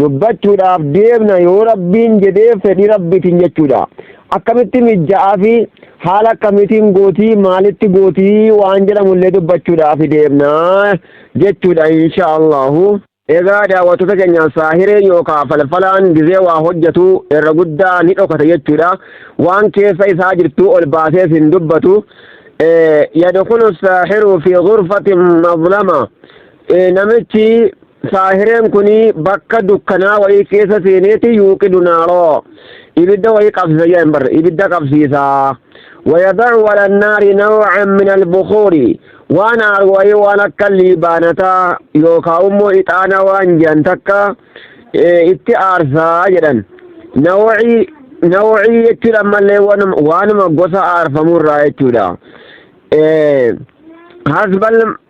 dubbachuudhaaf deemna yoo rabbiin jedhee fedhii rabbiitiin jechuudha akkamitti mijja'aa fi haala akkamitiin gootii maalitti gootii waan jedhamullee dubbachuudhaaf deemna jechuudha insha allahu egaa daawwattoota keenya saahireen yookaan falfalaan gizee waa hojjetu irra guddaa ni dhokata jechuudha waan keessa isaa jirtu ol baasees hin dubbatu yadkhulu saahiru fi ghurfatin mazlama namichi Saahireen kun bakka dukkanaa wayii keessa seeneeti yuuqidu naaroo ibidda wayii qabsiisa jedhan barre ibidda qabsiisa wayadacu ala naari nawcan min albukuuri waan aaru wayii waan akka liibaanataa yookaa immoo ixaana waan jedhan takka itti aarsaa jedhan nawcii nawcii jechuudha ammallee waanuma gosa aarfamurraa jechuudha hasbal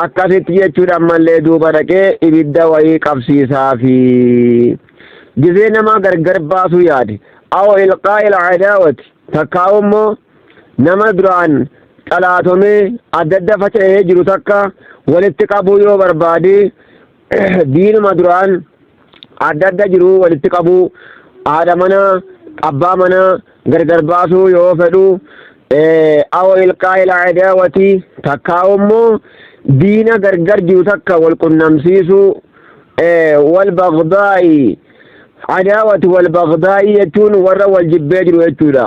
Akkasitti jechuudha ammallee duuba dhaqee ibidda wayii qabsiisaa fi gizee nama gargar baasuu yaade. Awo ilqaa ila adaawati takkaa'u immoo nama duraan xalaatomee adda adda faca'ee jiru takka walitti qabuu yoo barbaade diinuma duraan adda adda jiru walitti qabuu haadha mana abbaa mana gargar baasuu yoo fedhu aw ilqaa ila adaawati takkaa immoo diina gargar jiru takka wal qunnamsiisuu wal bagdaa'i adaawati wal bagdaa'i jechuun warra wal jibbee jiru jechuudha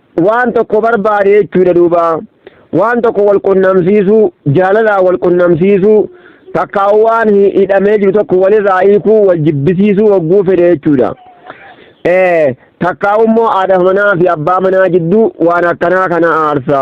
waan tokko barbaade jechuudha duuba waan tokko wal qunnamsiisuu jaalalaan wal qunnamsiisuu takkaa waan hi- hidhamee jiru tokko walirraa hiikuu wal jibbisiisuu hogguu fedhe jechuudha. Eh, Takkaa immoo haadha manaa fi abbaa manaa jidduu waan akkanaa kana aarsa.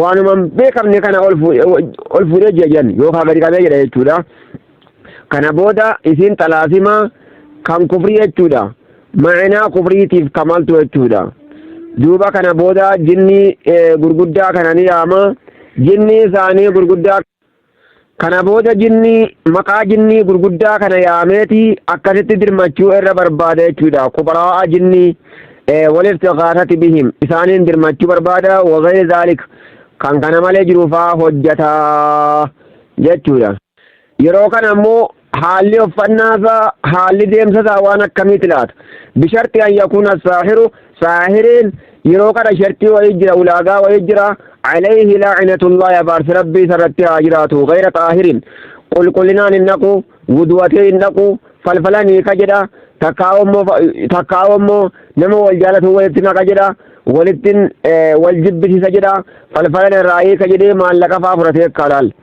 waanuma hin beekamne kana ol fu- ol fuudhee jira jedhan yookaan gadi qabee jedha jechuudha. Kana booda isiin xalaasima kan kufrii jechuudha. Ma'inaa kufriitiif kamaltu jechuudha. Duuba kana booda jinni eh, gurguddaa kana ni yaama. Jinni isaanii gurguddaa Kana booda jinnii maqaa jinnii gurguddaa kana yaameeti akkasitti dirmachuu irra barbaada jechuudha. Kubaraa'a jinnii waliftiqaasati bihim isaaniin dirmachuu barbaada wagayri zaalik kan kana malee jiru faa hojjata jechuudha. Yeroo kana ammoo Haalli uffannaa isaa, haalli deemsa isaa waan akkamiiti laata? Bisharti an yakuuna saahiru, saahiriin yeroo kana shartii wayii jira, ulaagaa wayii jira. Alayhi laacinatullahi abaarsi rabbii isarratti haa jiraatu. Gayra xaahirin, qulqullinaan hin dhaqu, wudu'atee hin dhaqu, falfalan hiika jedha. Takkaa'oo immoo nama wal jaalatu walitti naqa jedha. Walittiin wal jibbisiisa jedha. Falfalan irraa hiika jedhee maallaqa fa'aa fudhatee akka halaal.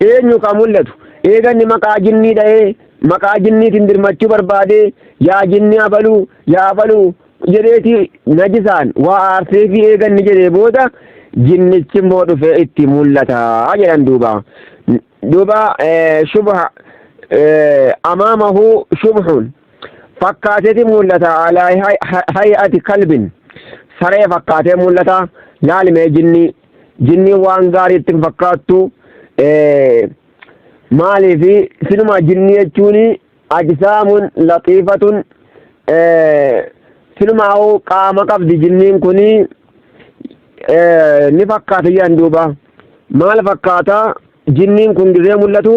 Eenyu ka mul'atu? Eega inni maqaa jinnii dhayee, maqaa jinniitiin dirmachuu barbaadee, yaa jinnii abaluu, yaa abaluu jedheeti najisaan waa aarseefii eega inni jedhee booda, jinnichi immoo dhufee itti mul'ata jedhan duuba. Duuba shubha amaamahu shubhun fakkaateeti mul'ata alaa hay'ati kalbin saree fakkaatee mul'ata laalmee jinnii Jinniin waan gaarii itti hin fakkaattu. Maaliif sinumaa jinnii jechuun ajisaamun laxiifatun sinumaa qaama qabdi jinniin kun ni fakkaata jedhan duuba. Maal fakkaata jinniin kun gizee mul'atu?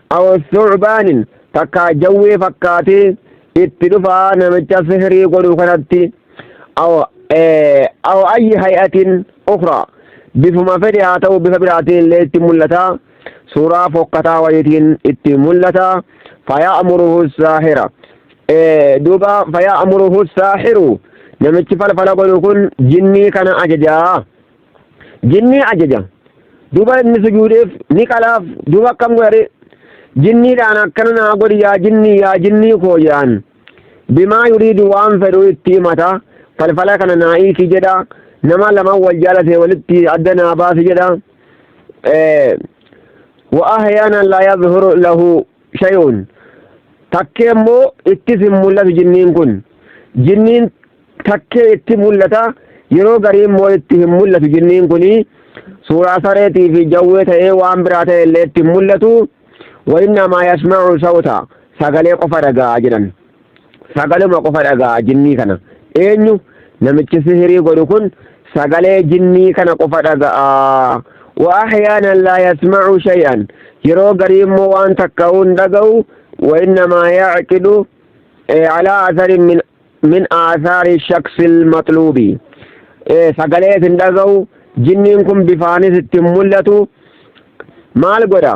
aw thu'baanin takkaa jawwee fakkaatee itti dhufaa namicha sihrii godhu kanatti aw aw ayyi hay'atin ukhraa bifuma fedhe haa ta'u bifa biraatiin illee itti mul'ata suuraa fokkataa wayitiin itti mul'ata faya'muruhu saahira duuba faya'muruhu saahiru namichi falfala godhu kun jinnii kana ajajaa jinnii ajaja duba inni sujuudeef ni qalaaf duba akkam godhare jinniidhaan akkana naa godhi yaa jinnii yaa jinnii koo jedhaan bimaa yuriidu waan fedhu itti himata falfala kana naa hiiki jedha nama lama wal jaalate walitti adda naa baasi jedha wa ahyaana laa yadhuru lahu shay'un takkee immoo ittis hin mul'atu jinniin kun jinniin takkee itti mul'ata yeroo garii immoo itti hin mul'atu jinniin kun suuraa sareetii fi jawwee ta'ee waan biraa ta'e illee itti hin mul'atu wa'innamaa yasma'u sawta sagalee qofa dhaga'a jedhan sagaluma qofa dhaga'a jinnii kana eenyu namichi sihirii godhu kun sagalee jinnii kana qofa dhaga'a wa ahyaanan laa yasma'u shay'an yeroo garii immoo waan takka'uun dhaga'u wa innamaa yacqidu calaa asarin min min aasaari shaksil maxluubi sagalee isin dhaga'u jinniin kun bifaanis ittiin mul'atu maal godha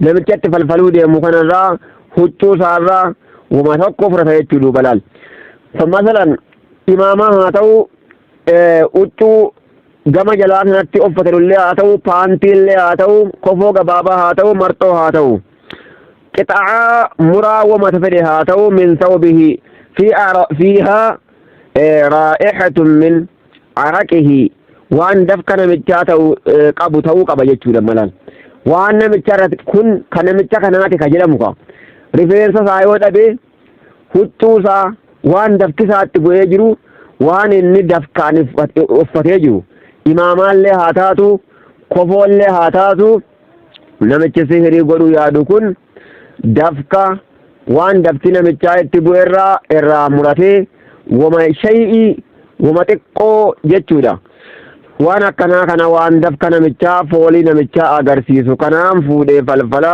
namichatti falfaluu deemu kanarraa huccuu isaarraa wama tokko fudhata jechuu duuba laal masalan imaamaa haa ta'u huccuu gama jalaa sanatti uffatanullee haa ta'u paantiillee haa ta'u kofoo gabaabaa haa ta'u marxoo haa ta'u qixa'aa muraa wama fedhe haa ta'u min sawbihi fi fiihaa raa'ihatun min araqihii waan dafka namichaa ta'u qabu ta'uu qaba jechuudha malaan waan namicha irratti kun kan namicha kanaati ka jedhamu ka rifeensa isaa yoo dhabe huccuu isaa waan dafki isaatti bu'ee jiru waan inni dafkaan uffatee jiru imaamaallee haa taatu kofoollee haa taatu namichi sihirii godhuu yaadu kun dafqa waan dafti namichaa itti bu'erraa irraa muratee woma shay'ii woma xiqqoo jechuudha. Waan akkanaa kana waan dafqa namichaa foolii namichaa agarsiisu kanaan fuudhee falfala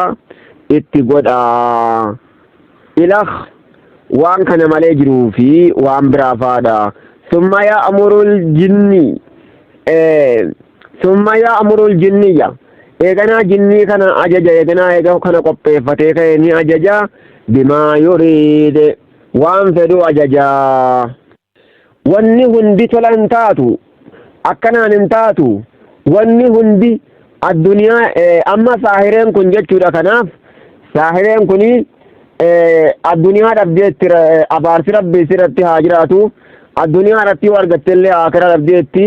itti godha. Ilakh waan kana malee jiruu fi waan biraa faadha. Summa ya'murul jinni Summa ya'murul jinniyya. Eeganaa jinnii kana ajaja eeganaa eega kana qopheeffatee ka'e ni ajaja bimaa yuriide waan fedhu ajaja. Wanni hundi tola hin taatu akkanaan hin taatu wanni hundi addunyaa amma saahireen kun jechuudha kanaaf saahireen kun addunyaa dhabdeetti abaarsi rabbi isirratti haa jiraatu addunyaa irratti yoo argattellee akira dhabdeetti.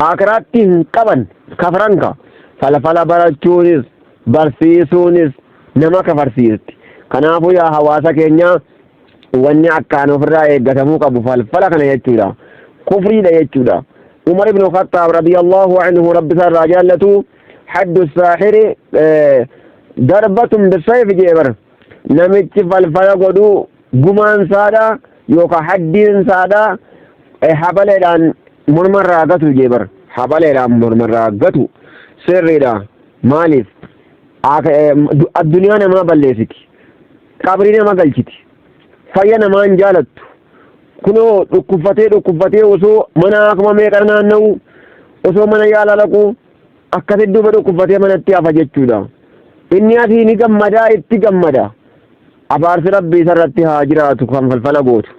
Aakiraatti hin qaban kafran ka. Falfala barachuunis barsiisuunis nama kafarsiisti. Kanaafuu yaa hawaasa keenyaa wanni akkaan ofirraa eeggatamuu qabu falfala kana jechuudha. Kufriidha jechuudha. Umar ibn Khattaab radiyallahu anhu rabbi isaa irraa jaallatu haddu saahiri darbatun bisayf jee bara namichi falfala godhu gumaan saadha yookaan haddiin saadha habaleedhaan mormarraa gatu jee bar habaleedhaan mormarraa gatu sirriidha maaliif addunyaa namaa balleessiti qabrii nama galchiti fayya namaa hin jaalattu kunoo dhukkubfatee dhukkubfatee osoo mana akkuma meeqa naanna'u osoo mana yaala laqu Akkasitti duuba dhukkubfatee manatti hafa jechuudha. Inni asii ni gammadaa itti gammada. Abaarsi rabbi isarratti haa jiraatu kan falfala gootu.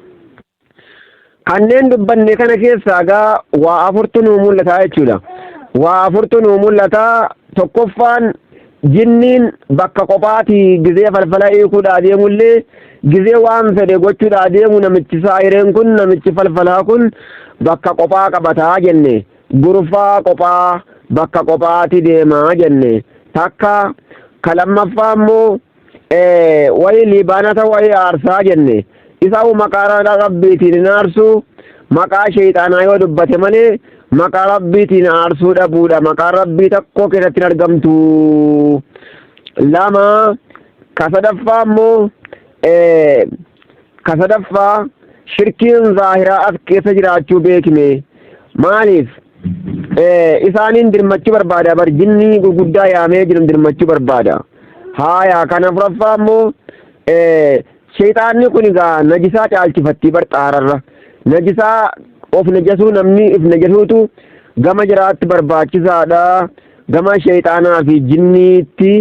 Kanneen dubbanne kana keessaa gaa waa afurtu nuu mul'ata jechuudha. Waa afurtu nuu mul'ata tokkoffaan jinniin bakka qophaati gizee falfala hiikuudhaa deemullee gizee waan fedhe gochuudhaa deemu namichi saayireen kun namichi falfalaa kun bakka qophaa qabataa jenne. gurfaa qophaa bakka qophaati deema jenne takka ka lammaffaa immoo wayi liibaanata wayi aarsaa jenne isaa'u maqaa rabbiitiin hin aarsu maqaa sheeyxaanaa yoo dubbate malee maqaa rabbiitiin aarsuu dhabuudha maqaa rabbii tokko keessatti hin argamtu lama Ka sadaffaa immoo ka sadaffaa shirkiin zaahiraa as keessa jiraachuu beekne maaliif isaaniin dirmachuu barbaada bar jinnii gurguddaa yaamee jiran dirmachuu barbaada haayaa kan afuraffaa immoo Sheyxaanni kun egaa najisaa caalchifattii bar xaararra. Najisaa of najasuu namni if najasuutu gama jiraatti barbaachisaadha. Gama sheyxaanaa fi jinniitti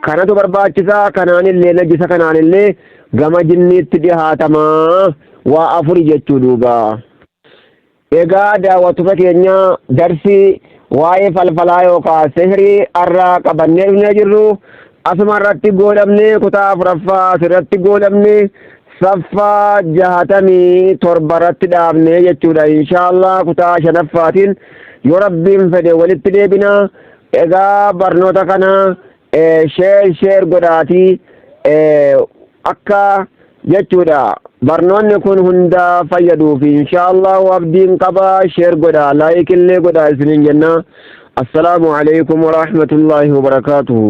kanatu barbaachisa. Kanaanillee najisa kanaanillee gama jinniitti dhihaatama. Waa afuri jechuu duuba. Egaa daawwattoota keenya darsii waa'ee falfalaa yookaan sihrii har'aa qabannee dhufnee jirru asuma irratti goolabnee kutaa afuraffaa asirratti goolabne saffaa jahatamii torba irratti dhaabnee jechuudha inshaallah kutaa shanaffaatiin yoo rabbiin fedhe walitti deebina egaa barnoota kana sheer sheer godhaatii akka jechuudha barnoonni kun hunda fayyaduuf inshaallahu abdiin qaba sheer godha laayik illee godha isinin jenna assalaamu alaikum warahmatullaahi wabarakaatuhu